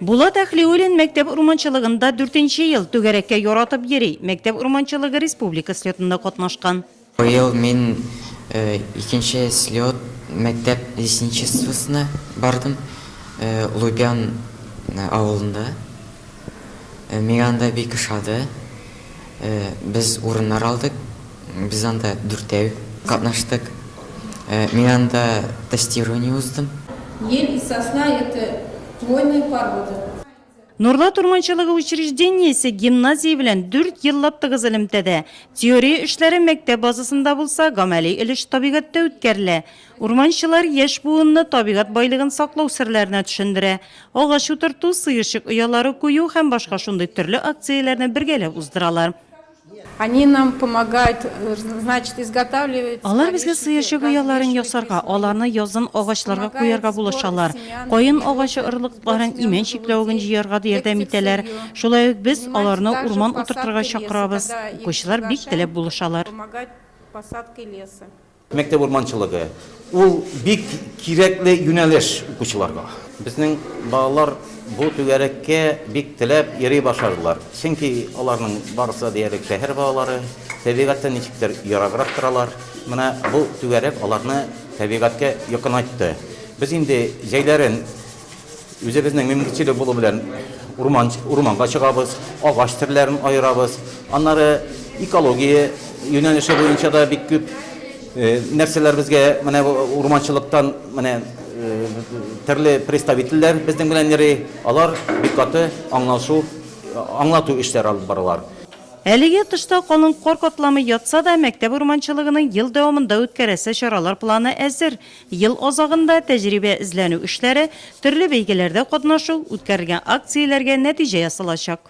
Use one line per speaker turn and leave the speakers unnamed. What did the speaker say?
Булат Әхлиуллин мәктәп урманчылыгында дүртенче ел, түгәрәккә яратып йөри, мәктәп урманчылыгы республика слетында катнашкан. Быел мин
икенче слет, мәктәп лесничествосына бардым, Лубян авылында. Миңа анда бик ошады. Без урыннар алдык, Без анда дүртәү катнаштык. Мин анда тестирование уздым. Ел,
сосна это хвойные породы. Нурлат
урманчылыгы учреждениесе гимназия белән дүрт еллап тыгыз элемтәдә. Теория эшләре мәктәп базасында булса, гамәли өлеш табигатьтә үткәрелә. Урманчылар яшь буынны табигать байлыгын саклау серләренә төшендерә. Агач утырту, сыерчык оялары кую һәм башка шундый төрле акцияләрне бергәләп уздыралар. Они
нам помогают, значит, изготавливать. Алар безгә сыерчык
ояларын ясарга, аларны язын агачларга куярга булышалар, каен агачы орлыкларын, имән чикләвеген җыярга да ярдәм итәләр. Шулай ук без аларны урман утыртырга чакырабыз. Укучылар бик теләп булышалар.
Мәктәп урманчылыгы, ул бик кирәкле юнәлеш укучыларга. Безнең балалар бу түгәрәккә бик теләп йөри башладылар, чөнки аларның барысы да диярлек шәһәр балалары, табигатьтән ничектер ераграк торалар. Менә бу түгәрәк аларны табигатькә якынайтты. Без инде җәйләрен Үзебезнең мөмкинчелек булу белән урман, урманга чыгабыз, агач төрләрен аерабыз. Аннары экология юнәлеше буенча да бик күп э, нәрсәләр безгә менә урманчылыктан менә э, төрле представительләр безнең белән йөри. Алар бик каты аңлашу, аңлату эшләре алып баралар. Әлегә тышта
калын кар катламы ятса да, мәктәп урманчылыгының ел дәвамында үткәрәсе чаралар планы әзер. Ел азагында тәҗрибә эзләнү эшләре, төрле бәйгеләрдә катнашу, үткәрелгән акцияләргә нәтиҗә ясалачак.